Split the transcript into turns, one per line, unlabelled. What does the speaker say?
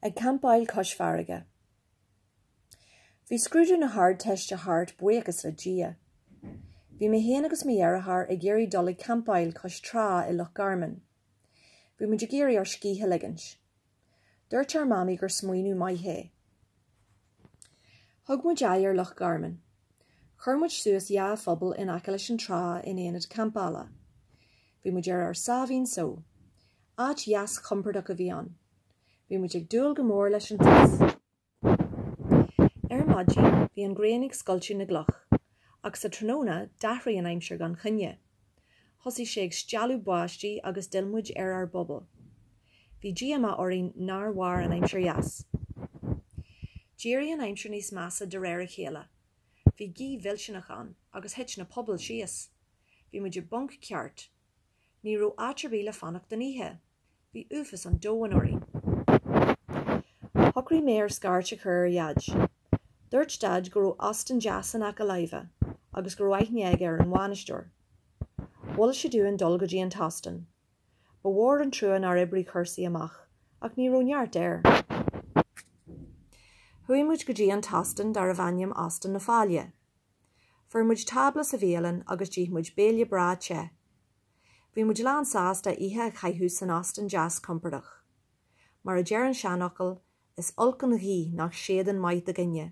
Ag campáil cois farraige. Bhí scrúdú na hArdteiste thart, buíochas le Dia. Bhí mé féin agus mo dheartháir ag iarraidh dul ag campáil cois trá i Loch Garman. Bhí muid ag iarraidh ár scíth a ligint. Dúirt ár mamaí gur smaoineamh maith é. Thug muid aghaidh ar Loch Garman. Chuir muid suas dhá phuball in aice leis an trá in ionad campála. Bhí muid ar ár sáimhín só. Áit dheas chompordach a bhí ann. Bhí muid ag súil go mór leis an teas. Ar maidin bhí an ghrian ag scoilteadh na gcloch, ach sa tráthnóna d'athraigh an aimsir gan choinne. Thosaigh sé ag stealladh báistí agus d'fhill muid ar ár bpuball. Bhí díomá orainn nár mhair an aimsir dheas. D'éirigh an aimsir níos measa de réir a chéile. Bhí gaoth mhillteanach ann agus thit na pubaill síos. Bhí muid i bponc ceart. Ní raibh áit ar bith le fanacht don oíche. Bhí uafas an domhain orainn. Shocraigh mé scairt a chur ar Dhaid. Dúirt Daid go raibh óstán deas in aice láimhe agus go raibh aithne aige ar an bhainisteoir. Mhol sé dúinn dul go dtí an t-óstán. Ba mhór an trua nár oibrigh cúrsaí amach, ach ní raibh neart air. Chuaigh muid go dtí an t-óstán darbh ainm Óstán na Faille. Fuair muid tábla sa bhialann agus d'ith muid béile breá te. Bhí muid lán sásta oíche a chaitheamh san óstán deas compordach. Mar a deir an seanfhocal, is olc an ghaoth nach séideann maith do dhuine.